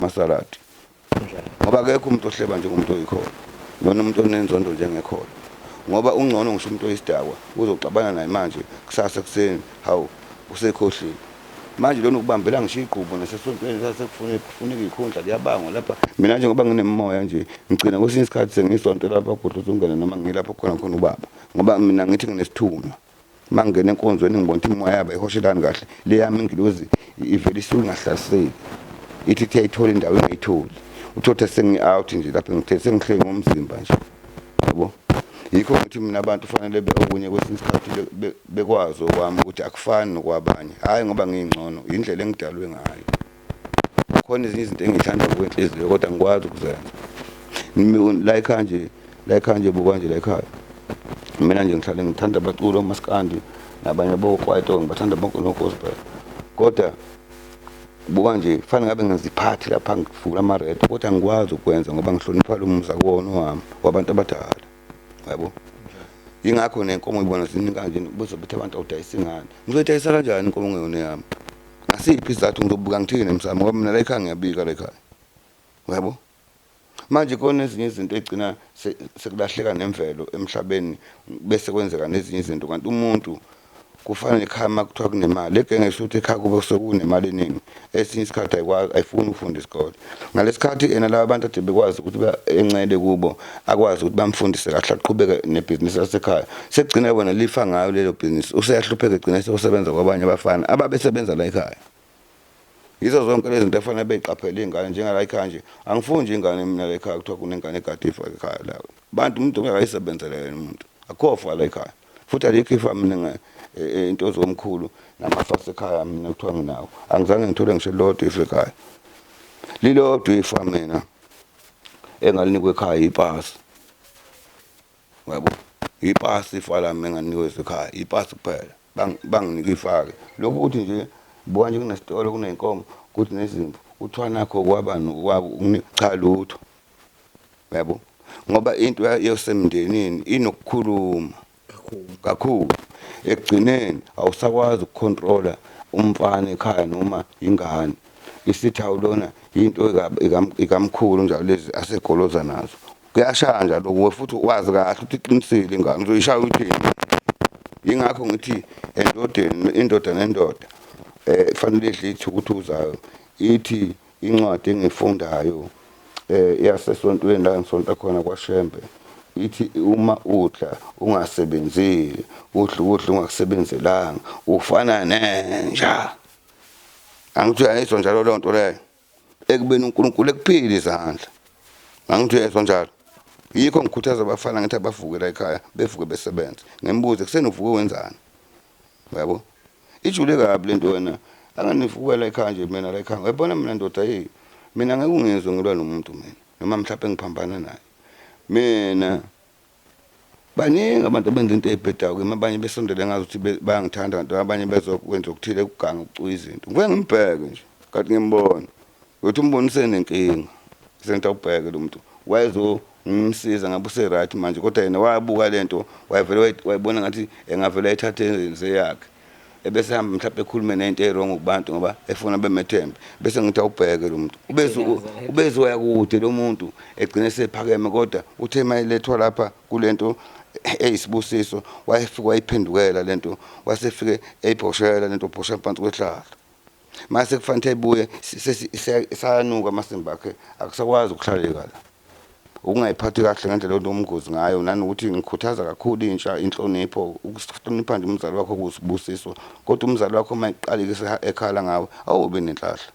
masaladi ngoba akekho umuntu ohleba njengomuntu oyikhona lona umuntu onenzondo njengekhona ngoba ungcono ngisho umuntu oyisidakwa uzoxabana naye manje kusasa ekuseni hawu usekhohlile manje lona ukubambela ngisho igqubu nasesontweni sasekufuna kufuneka ikhundla kuyabangwa lapha mina nje ngoba nginemoya nje ngigcina kwesinye isikhathi sengisonto lapha gudluza ungene noma ngilapho khona khona ubaba ngoba mina ngithi nginesithunywa uma ngingena enkonzweni ngibona ukuthi imimoya yabo ihoshelani kahle le yami ingilozi ivele isuke ingahlaseli ithi kuthe ayithole indawo ingayitholi uthothe sengi-out nje lapho ngithe sengihleki ngomzimba nje yabo yikho ngithi mina abantu kufanele okunye kwesinye isikhathi bekwazi okwami ukuthi akufani nokwabanye hhayi ngoba ngiyingcono yindlela engidalwe ngayo khona ezinye izinto engithanda ngokwenhliziyo kodwa ngikwazi ukuzenza la ekhaya nje la ekhaya nje buka nje la ekhaya mina nje ngihlale ngithanda abaculi omaskandi nabanye bokwaito ngibathanda bonke nogospel kodwa buka nje kufanele ngabe ngiziphathi lapha ngivula ama-red kodwa ngikwazi ukwenza ngoba ngihlonipha lo mzakona wami wabantu abadala yabo yingakho nenkomo ibona ziningi kanje buze ukuthi abantu awudayisa ingane ngizoyidayisa kanjani inkomo ngeyona yami ngasiphi isizathu ngizobuka ngithini emsamo ngoba mina la ekhaya ngiyabika la ekhaya yabo manje kona ezinye izinto egcina sekulahleka nemvelo emhlabeni bese kwenzeka nezinye izinto kanti umuntu kufana nekhaya uma kuthiwa kunemali egenge kusho ukuthi ekhaya kube kusuke kunemali eningi esinye isikhathi ayikwazi ayifuni ukufunda isikole ngalesikhathi yena laba bantu ade bekwazi ukuthi encele kubo akwazi ukuthi bamfundise kahle aqhubeke nebhizinisi lasekhaya sekugcina wena lifa ngayo lelo bhizinisi useyahlupheka egcina sekusebenza kwabanye abafana ababesebenza la ekhaya Yizo zonke lezi zinto efanele beyiqaphele iy'ngane njengala ekhaya nje angifuni nje ingane mina la ekhaya kuthiwa kunengane egade ifa ekhaya la bantu umuntu kumele ayisebenzele yena umuntu akukho fa la ekhaya futhi alikho ifa mina e, e, into zomkhulu namafa asekhaya mina kuthiwa nginawo angizange ngithole ngisho lodwa ifa ekhaya lilodwa ifa mina engalinikwa ekhaya ipasi yabo ipasi ifa lami enganinikwe ekhaya ipasi kuphela banginike ifake lokhu ukuthi nje buka nje kunesitolo kuney'nkomo kuthi nezimvu kuthiwa nakho kwabani kwabo cha lutho yabo ngoba into yosemndenini inokukhuluma kakhulu ekugcineni awusakwazi ukukhontrola umfana ekhaya noma ingane isithawu lona into ikamkhulu njalo lezi asegoloza nazo kuyashanja lokhu we futhi wazi kahle ukuthi iqinisile ingane uzoyishaya uthini yingakho ngithi endodeni indoda nendoda eh kufanele idle ithukuthuzayo ithi incwadi engifundayo eh yasesontweni la ngisonta khona kwaShembe ithi uma udla ungasebenzile udla ukudla ungakusebenzelanga ufana nenja angithi ayizwa njalo lonto leyo ekubeni uNkulunkulu ekuphile izandla ngangithi uyezwa njalo yikho ngikhuthaza abafana ngithi abavuke la ekhaya bevuke besebenza ngembuze kuseni uvuke wenzani uyabo ijule kabi lento wena anganivuka la ekhaya nje mina la ekhaya uyabona mina ndoda hey mina ngeke ungizwe ngilwa nomuntu mina noma mhlawumbe ngiphambana naye mina baningi abantu abenza into eyibhedayo kimi abanye besondele ngazi ukuthi bayangithanda kanti abanye bezokwenza okuthile ukuganga ukucuya izinto ngivuke ngimbheke nje kanti ngimbona ukuthi umbonise nenkinga senta ubheke lo muntu wayezongimsiza ngabe useright manje kodwa yena wabuka le nto wayevele wayibona ngathi engavele ayithathe seyakhe ebese hamba mhlawumbe ekhulume nento ewrong kubantu ngoba efuna bemethembe bese ngithi awubheke lo muntu ubeze ubeze waya kude lo muntu egcine sephakeme kodwa uthe mayelethwa lapha kulento eyisibusiso wayefika wayiphendukela lento wasefike eyibhoshela lento bhosha phansi kwehlahla mase kufanele ibuye sayanuka amasimba akhe akusakwazi ukuhlaleka la ukungayiphathi kahle ngendlela onomngozi ngayo nanokuthi ngikhuthaza kakhulu intsha inhlonipho ukuhlonipha nje umzali wakho kusibusiso kodwa umzali wakho uma eqalike ekhala ngawe awube nenhlahla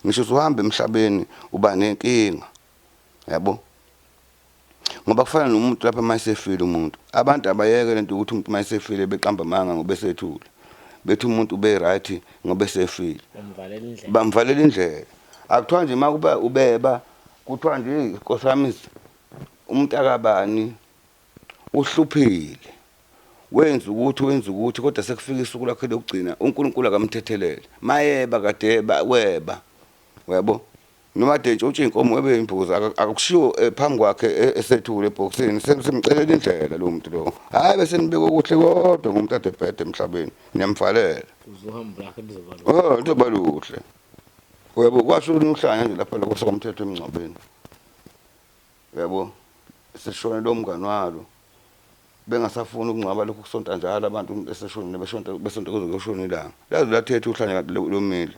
ngisho usuhamba emhlabeni uba nenkinga yabo ngoba kufana nomuntu lapha uma esefile umuntu abantu abayeke lento ukuthi umuntu uma esefile beqamba amanga ngoba esethule bethi umuntu ube right ngoba esefile bamvalela indlela akuthiwa nje uma kuba ubeba kuthiwa nje inkosi yami umuntu akabani uhluphile wenza ukuthi wenza ukuthi kodwa sekufika isuku lakhe lokugcina unkulunkulu akamthethelele mayeba kadeba weba uyabo Noma Dentshi utshe inkomo ebe imbuzi akushiwo eh, phambi kwakhe eh, esethule ebhokisini simcelela indlela lo muntu lo. Hayi bese nibeka okuhle kodwa ngomuntu ade bhede emhlabeni. Niyamvalela. Uzohamba lakhe lizobalula. Oh, lizoba luhle. Uyabo kwasho uhlanya nje lapha lokho sokomthetho emngcwabeni. Uyabo seshone lo mngani walo bengasafuni ukungcwaba lokhu kusonta njalo abantu umuntu eseshonile beshonta besonta kuze kuyoshona ilanga laze lathetha uhlanya kanti lomile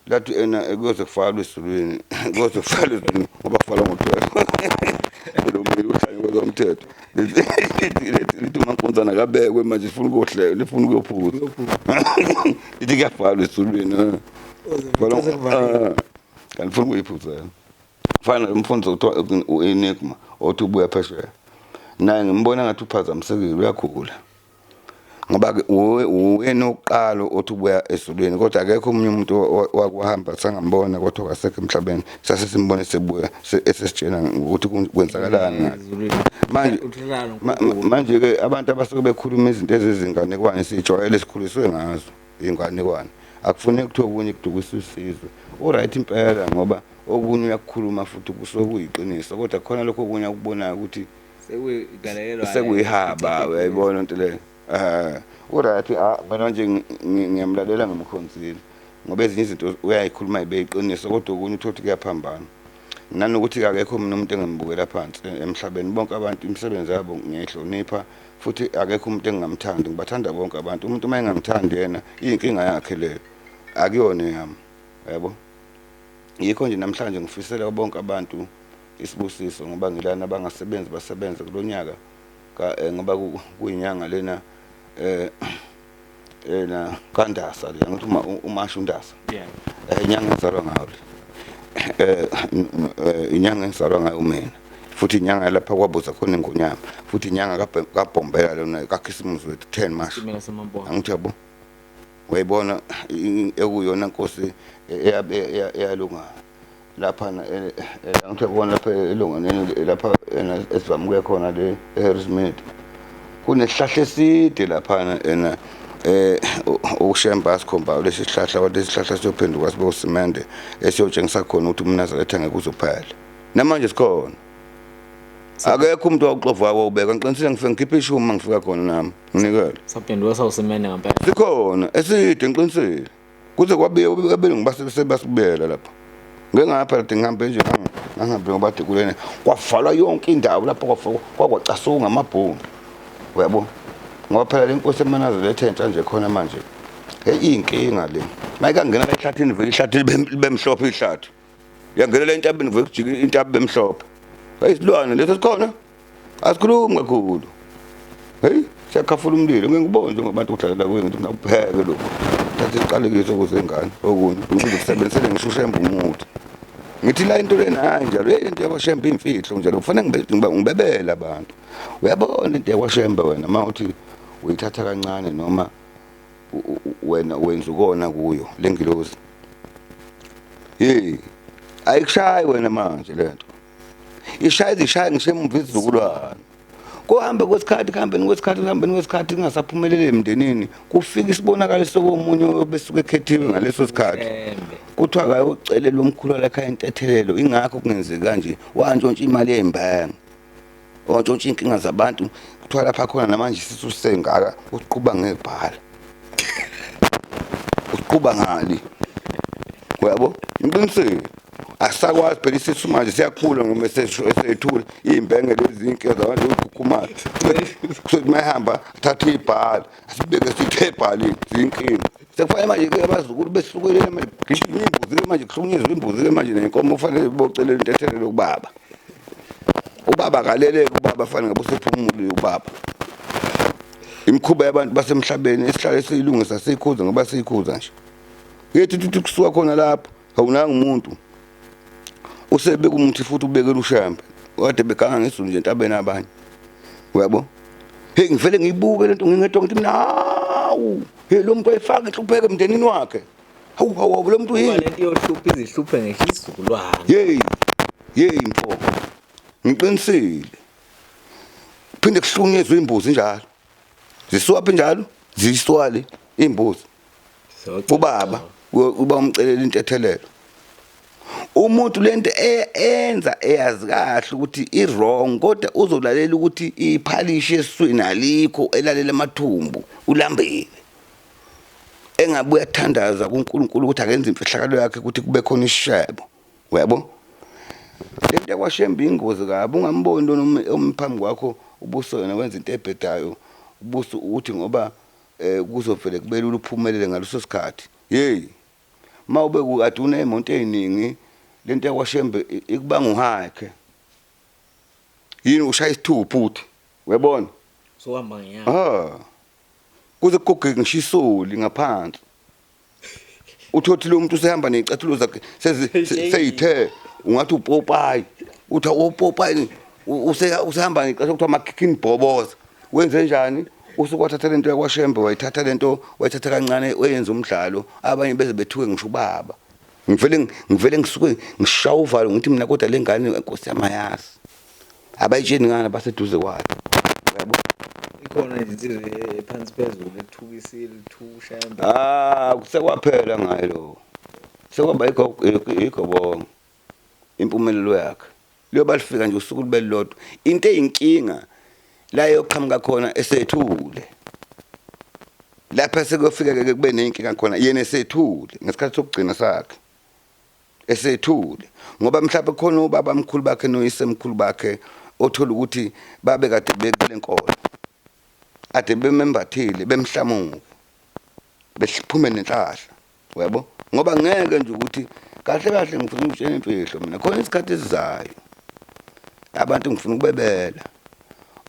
lathi ena kuyoze kufalwe esizulwini kuyoze kufalwe esizulwini ngoba kufalwa ngomthetho lomile uhlanya kwezomthetho lithi umankonzana kabekwe manje lifuna ukuyohlela lifuna ukuyophuza lithi kuyafalwa esizulwini eh. eh. kanti lifuna ukuyiphuzela fana umfundisi okuthiwa u-enigma othi ubuya phesheya naye ngimbona ngathi uphazamisekile uyakhula ngoba-ke uyena oqala othi ubuya ezulwini kodwa akekho omunye umuntu wakuhamba sangambona kodwa wasekho emhlabeni sase simbona esebuya esesitshena ukuthi kwenzakalani manje manje-ke abantu abasuke bekhuluma izinto ezizinganekwane siyijwayele sikhuliswe ngazo inganekwane akufuneki kuthiwa okunye kudukisa usizwe uright impela ngoba okunye uyakukhuluma futhi kusuke kuyiqiniso kodwa khona lokho okunye akubonayo ukuthi sekuyihaba uyayibona into leyo um uright mina nje ngiyamlalela ngimkhonzile ngoba ezinye izinto uyayikhuluma ibe yiqiniso kodwa okunye uthole ukuthi kuyaphambana nanokuthi kakekho mina umuntu engamubukela phansi emhlabeni bonke abantu imisebenzi yabo ngiyayihlonipha futhi akekho umuntu engingamthandi ngibathanda bonke abantu umuntu uma engangithandi yena iyinkinga yakhe leyo akuyona eyami yabo yikho nje namhlanje ngifisela bonke abantu isibusiso ngoba ngilana abangasebenzi basebenze kulonyaka eh, ngoba kuyinyanga lena eh eh na kandasa le ngithi uma umasha undasa yeah eh inyanga ngizalwa ngayo le eh, eh inyanga ngizalwa ngayo mina futhi inyanga lapha kwabuza khona ingonyama futhi inyanga kabhombela lona kakhisimuzi wethu 10 march angithi yabo wayibona ekuyona nkosi eyalunga lapha ngithe khona lapha elonganeni lapha ena esivamuke khona le eHarrismith kunesihlahla eside laphana ena eh ushemba asikhomba lesi sihlahla wathi isihlahla siyophenduka sibe usimende esiyotshengisa khona ukuthi umnazaretha ngeke uzophela namanje sikhona akekho umuntu wawuxova wawo ubeka ngiqinisile ngifike ngikhiphe ishumi mangifika khona nami nginikele saphenduka sawusimende ngempela sikhona eside ngiqinisile kuze kwabe abelungu basebasibuyela lapho ngengapha kade ngihambe nje ngangihambe ngobade kulene kwavalwa yonke indawo lapho kwakwacasuka ngamabhomu uyabo ngoba phela le nkosi emanazelo ethe entsha nje khona manje heyi iyinkinga le mayikangena la ehlathini vele ihlathi libemhlophe ihlathi yangenela intabeni kuvele kujika intabi bemhlophe heyi silwane leso sikhona asikhulumi kakhulu heyi siyakhafula umlilo ngeke ngibone njengobantu kudlalela kuye ngithi nakupheke lokhu thatha isiqalekiso ukuze ingane okunye ngize kusebenzisele ngishusheembe umuthi ngithi la into lena hayi njalo yeyi into yakwashembe imfihlo njalo kufanele ngibebele abantu uyabona into yakwashembe wena uma uthi uyithatha kancane noma wena wenza ukona kuyo lengilozi hey ayikushayi wena manje lento ishaya izishaya ngisemumva izizukulwane kuhambe kwesikhathi kuhambeni kwesikhathi kuhambeni kwesikhathi kungasaphumeleli emndenini kufika isibonakaliso komunye obesuke ekhethiwe ngaleso sikhathi kuthiwa kayocelela umkhulu walakhaya intethelelo ingakho kungenzeki kanje wantshontsha imali yey'mbanga wantshontsha iy'nkinga zabantu kuthiwa lapha khona namanje sithi usengaka uqhuba ngebhala uqhuba ngani uyabo ngiqinisile asisakwazi phela isisu manje siyakhula ngoba esethula iy'mbenge lezinke zabantu zokukhukhumayo kusethi uma ehamba athathe ibhala sibeke siphebhani zinkinga sekufanele manje ke abazukulu besukele manje gijima imbuzi ke manje kuhlukunyezwa imbuzi ke manje nenkomo kufanele ibocelele intethelelo kubaba ubaba akaleleke ubaba fanele ngabe usephumulile ubaba imikhuba yabantu basemhlabeni esihlale siyilungisa siyikhuza ngoba siyikhuza nje yethu ukuthi kusuka khona lapho awunanga umuntu usebeka umuthi futhi ubekela ushambe kade beganga ngesulu nje entabeni abanye uyabo hey ngivele ngiyibuke lento ngingedwa ngithi mina hawu hey lo muntu ayifaka inhlupheke emndenini wakhe hawu hawu lo muntu yini lento yohlupha izihluphe ngisho isizukulwane hey hey mfo ngiqinisile phinde kuhlunyezwe imbuzi njalo zisuwaphi njalo ziyiswali imbuzi ubaba uba umcelela intethelelo umuntu lento e-, enza eyazi kahle ukuthi iwrong kodwa uzolalela ukuthi iphalishi eswini alikho elalela amathumbu ulambile engabe uyathandaza kuNkulunkulu ukuthi akenze imfihlakalo yakhe ukuthi kube khona isishebo uyabo lento yakwashembe ingozi kabi ungamboni lona omphambi kwakho ubuso yena wenza into ebhedayo ubuso uthi ngoba eh kuzovele kubelula uphumelele ngaleso sikhathi hey uma ube kukade unemonto eziningi lento yakwashembe ikubanga uhike yini ushaya isithupha uthi uyabona so uhamba ngenyanga ah kuze kugege ngishisoli ngaphansi uthothi lo muntu usehamba nezicathulo zakhe seyithe ungathi upopayi uthi upopayi usehamba ngecathulo kuthiwa makhikhini bhoboza wenze njani usukwathatha lento yakwashembe wayithatha lento wayithatha kancane wayenza umdlalo abanye beze bethuke ngisho ubaba ngivele ngivele ngisuke ngishawa uvalo ngithi mina kodwa lengane nkosi yamayazi abayitsheni ngani abaseduze kwayo yabo ikhona izinsizwa ephansi phezulu ethuka isile ithusha ah kusekwaphela ngayo lo sekwaba igobongo impumelelo yakhe liyoba lifika nje usuku libe lodwa into eyinkinga la yoqhamuka khona esethule lapha sekuyofika ke kube nenkinga khona yena esethule ngesikhathi sokugcina sakhe esethule ngoba mhlawumbe khona ubaba mkhulu bakhe noyisemkhulu bakhe othola ukuthi babe kade bekule nkolo ade bemembathile bemhlamuke bephume nenhlahla uyabo ngoba ngeke nje ukuthi kahle kahle ngifuna ukutshela imfihlo mina khona isikhathi esizayo abantu ngifuna ukubebela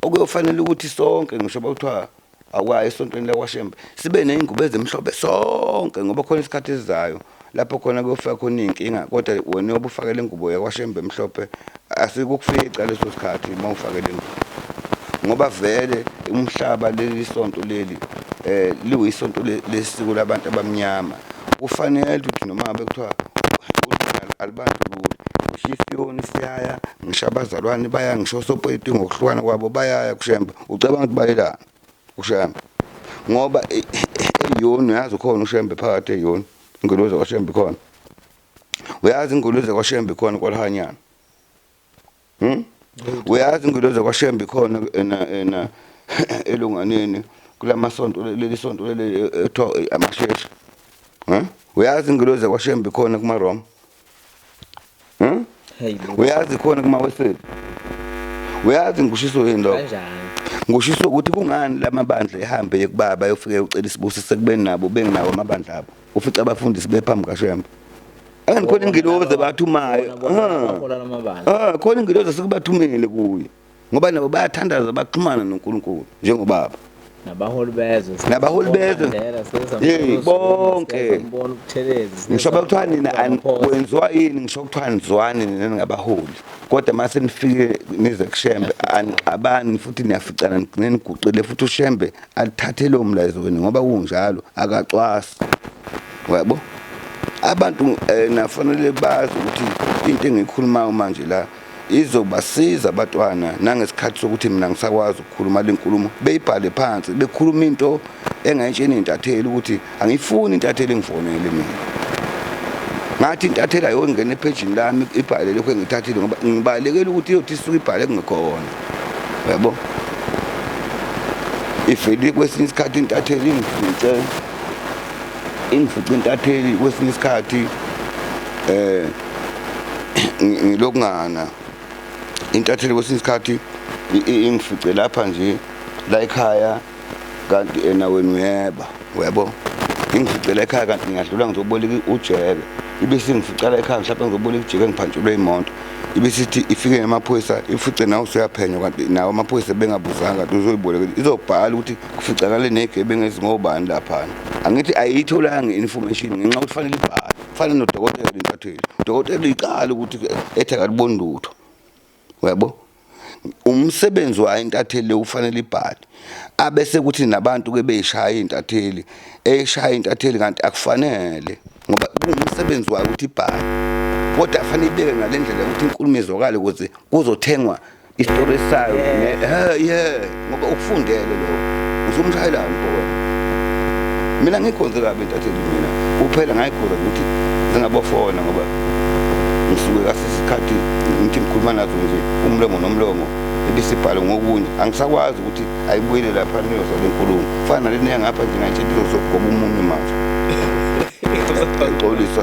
okuyofanele ukuthi sonke ngisho bakuthiwa Awukayi esontweni lakwaShembe sibe ney'ngubo ezimhlophe sonke ngoba khona isikhathi esizayo lapho khona kuyofika khona iy'nkinga kodwa wena yobe ufake le ngubo yakwaShembe emhlophe asikukufica leso sikhathi uma ufake le ngubo ngoba vele umhlaba leli sonto leli eh liwisonto lesiko labantu abamnyama kufanele ukuthi noma ngabe kuthiwa alibandlulule ngisho isiyoni siyaya ngisho abazalwane baya ngisho osopolitiki ngokuhlukana kwabo bayaya kushemba Ucabanga ukuthi bayelana uShembe ngoba e- e- eyoni uyazi ukhona uShembe phakathi eyoni inguluze kwaShembe khona uyazi inguluze kwaShembe khona kwalihanyana hmm? uyazi inguluze kwaShembe khona ena ena elunganeni kulamasonto leli sonto leli ethiwa amasheshe huh? uyazi inguluze kwaShembe khona kumaRoma Hmm? uyazi khona kuma weseli uyazi ngushiso yini lokho ngushiso ukuthi kungani lamabandla ehambe yekubaba yofike ucela isibusi sekubeni nabo bengenawo amabandla abo ufica abafundisi bephambi kashembe and khona ingilozi ebathumayo ah, ah, khona ingilozi sekubathumele kuye ngoba nabo bayathandaza baxhumana noNkulunkulu njengobaba nabaholi bezwe nabaholi bezwe hey bonke ngisho bakuthiwa nina kwenziwa yini ngisho kuthiwa nizwani nina ningabaholi kodwa mase nifike nize kushembe anixabani futhi niyaficana nigcine niguqile futhi ushembe athathe lo mlayezo wenu ngoba kunjalo akacwasi uyabo abantu eh, nafanele bazi ukuthi into engiyikhulumayo manje la izobasiza abatwana nangesikhathi sokuthi mina ngisakwazi ukukhuluma le nkulumo beyibhale phansi bekhuluma into engayitsheni intatheli ukuthi angiyifuni intatheli ngifonele mina ngathi intatheli ayongena ephejini lami ibhale lokhu engithathile ngoba ngibalekela ukuthi iyothi isuke ibhale kungekhona yabo ivele kwesinye isikhathi intatheli ingifice ingifice intatheli kwesinye isikhathi um ngilokungana intatheli kwesinye isikhathi ingifice lapha nje la ekhaya kanti ena wena uyeba uyabo ingifice la ekhaya kanti ngiyadlula ngizoboleka ujeke ibe singifica la ekhaya mhlawumbe ngizoboleka ujeke ngiphantshelwe imoto ibe sithi ifike nemaphoyisa ifice nawe usuyaphenywa kanti nawo amaphoyisa bengabuzanga kanti uzoyibolekela izobhala ukuthi kuficakale negebengu ezingobani laphana angithi ayiyitholanga i-information ngenxa ukuthi fanele ibhale fana nodokotela intatheli udokotela uyiqala ukuthi ethi akaliboni lutho uyabo umsebenzi wayo intatheli ufanele ibhale abese kuthi nabantu ke beyishaya intatheli eyishaya intatheli kanti akufanele ngoba umsebenzi wayo ukuthi ibhale kodwa afanele ibeke ngalendlela ukuthi inkulumo izwakale ukuze kuzothengwa isitori sayo eh yeah ngoba ukufundele lo uzomshayela umfowenu mina ngikhonze kabi intatheli mina kuphela ngayikhoza ukuthi zingabafona ngoba ngisuke kasesikhathi ngithi ngikhuluma nazo nje umlomo nomlomo ebisibhale ngokunye angisakwazi ukuthi ayibuyele lapha niyoza le nkulumo fana nalena yangapha nje ngayitshela izozogoba umunwe manje ngixolisa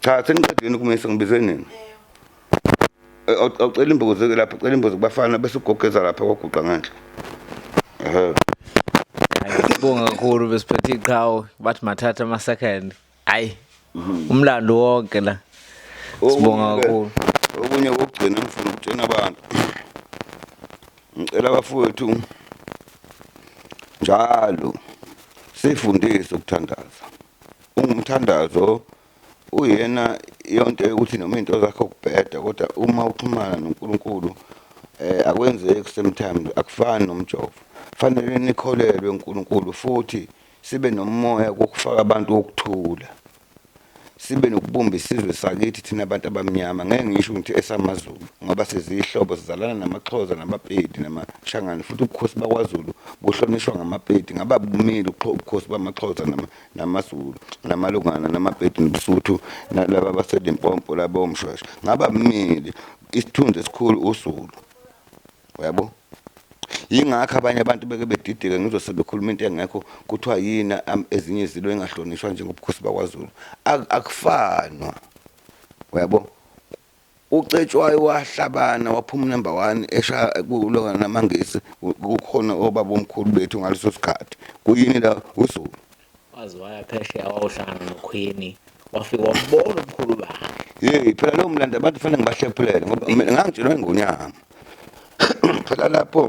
Cha seniqedile ukumisa ngibize nini? Awucela eh, imbuzi ke lapha, cela imbuzi kubafana bese ugogeza lapha kwaguqa ngenhla. Ehhe. Sibonga kakhulu besiphethe iqhawe bathi mathatha ama second. Hayi. Mhm. Umlando wonke la. Sibonga kakhulu. Okunye kokugcina ngifuna ukutshena abantu. Ngicela abafowethu njalo sifundise ukuthandaza. ungumthandazo uyena yonto yokuthi noma into zakho kubheda kodwa uma uxhumana noNkulunkulu eh akwenzeki sometimes akufani nomjovo fanele nikholelwe uNkulunkulu futhi sibe nomoya kokufaka abantu wokuthula sibe nokubumba isizwe sakithi thina abantu abamnyama ngeke ngisho ukuthi esamazulu ngoba sizihlobo sizalana namaxhoza nabapedi namashangane futhi ubukhosi bakwaZulu kuhlonishwa ngamaPedi ngaba bumeli ubukhosi bamaXhosa namaZulu namalungana namaPedi nobuSuthu nalaba baseLimpopo laba omshweshwe ngaba bumeli isithunzi esikhulu uZulu yabo yingakho abanye abantu beke bedideka ngizwe sebekhuluma into engekho kuthiwa yini ezinye izilo engahlonishwa njengobukhosi bakwaZulu akufanwa uyabo UCetshwayo wahlabana waphuma unumber one eshaya kulona namangisi kukhona obabomkhulu bethu ngaleso sikhathi kuyini la uZulu waze waya phesheya wawuhlangana nokhwini wafika wabona umkhulu bakhe yeyi phela lowo mlando abantu fanele ngibahlephulele ngoba mina ngangitshelwa ingonyama phela lapho